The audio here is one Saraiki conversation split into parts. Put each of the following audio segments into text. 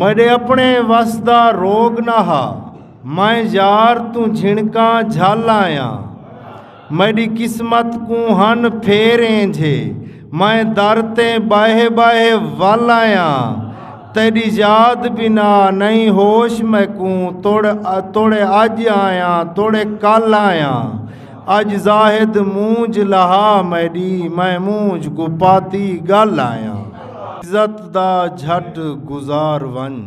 میڈے اپنے وس دا روگ نہ ہا میں یار توں جھنکاں جھل آیاں میڈی قسمت کوں ہن پھیر اینجھے میں در تے باہے باہے ول آیاں تیڈی یاد بنا نہیں ہوش میکوں توڑے اج آیاں توڑے کل آیاں اج زاہد مونج لہا میڈی میں مونج کوں پاتی گل آیاں عزت دا جھٹ گزار ونج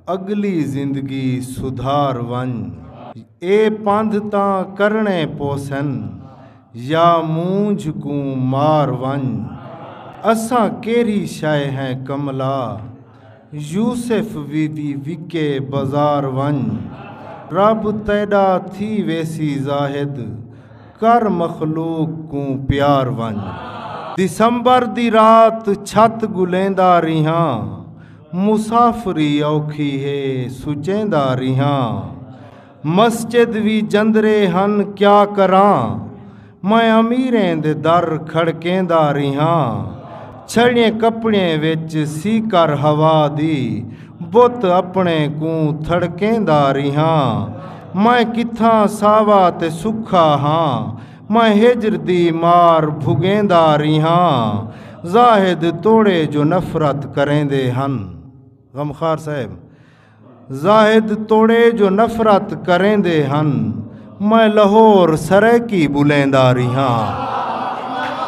اگلی زندگی سدھار ونج اے پندھ تاں کرنڑے پوسن یا مونج کوں مار ونج اساں کیرھی شے ہیں کملا یوسف ویدی وکے بزار ونج رب تیڈا تھی ویسی زاہد کر مخلوق کوں پیار ونج دسمبر دی رات چھت گلیندا ریہاں مسافری اوکھی ہے سچیندا ریہاں مسجد وی جندرے ہن کیا کراں میں امیریں دے در کھڑکیندا ریہاں چھڑیں کپڑیں وچ سی کر ہوا دی بت اپنے کوں تھڑکیندا ریہاں میں کتھاں ساوا تے سکھا ہاں میں ہجر دی مار بھگیندا ریہاں زاہد توڑے جو نفرت کریندے ہن غمخوار صاحب زاہد توڑے جو نفرت کریں دے ہن میں لہور سرائیکی بلیں دا رہاں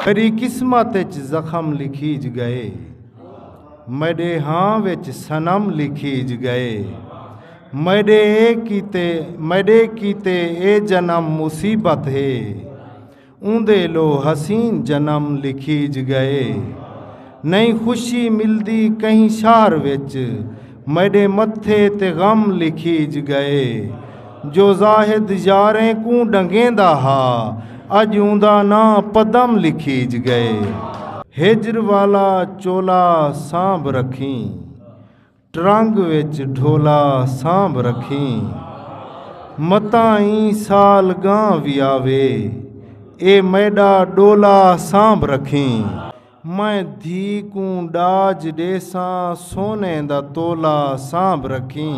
میری قسمت اچ زخم لکھیج گئے میڈے ہاں وچ سنم لکھیج گئے میڈے اے کیتے میڈے کیتے اے جنم مصیبت ہے اوندے لو حسین جنم لکھیج گئے نئیں خوشی ملدی کہیں شہر وچ میڈے متھے تے غم لکھیج گئے جو زاہد یاریں کوں ڈنگیندا ہا اج اوندا ناں پدم لکھیج گئے ہجر والا چولا سانبھ رکھیں ٹرنگ وچ ڈھولا سانبھ رکھیں متاں ایں سال گاں وی آوے اے میڈا ڈولا سانبھ رکھیں میں دھی کوں ڈاج ڈیساں سونے دا تولا سانبھ رکھیں۔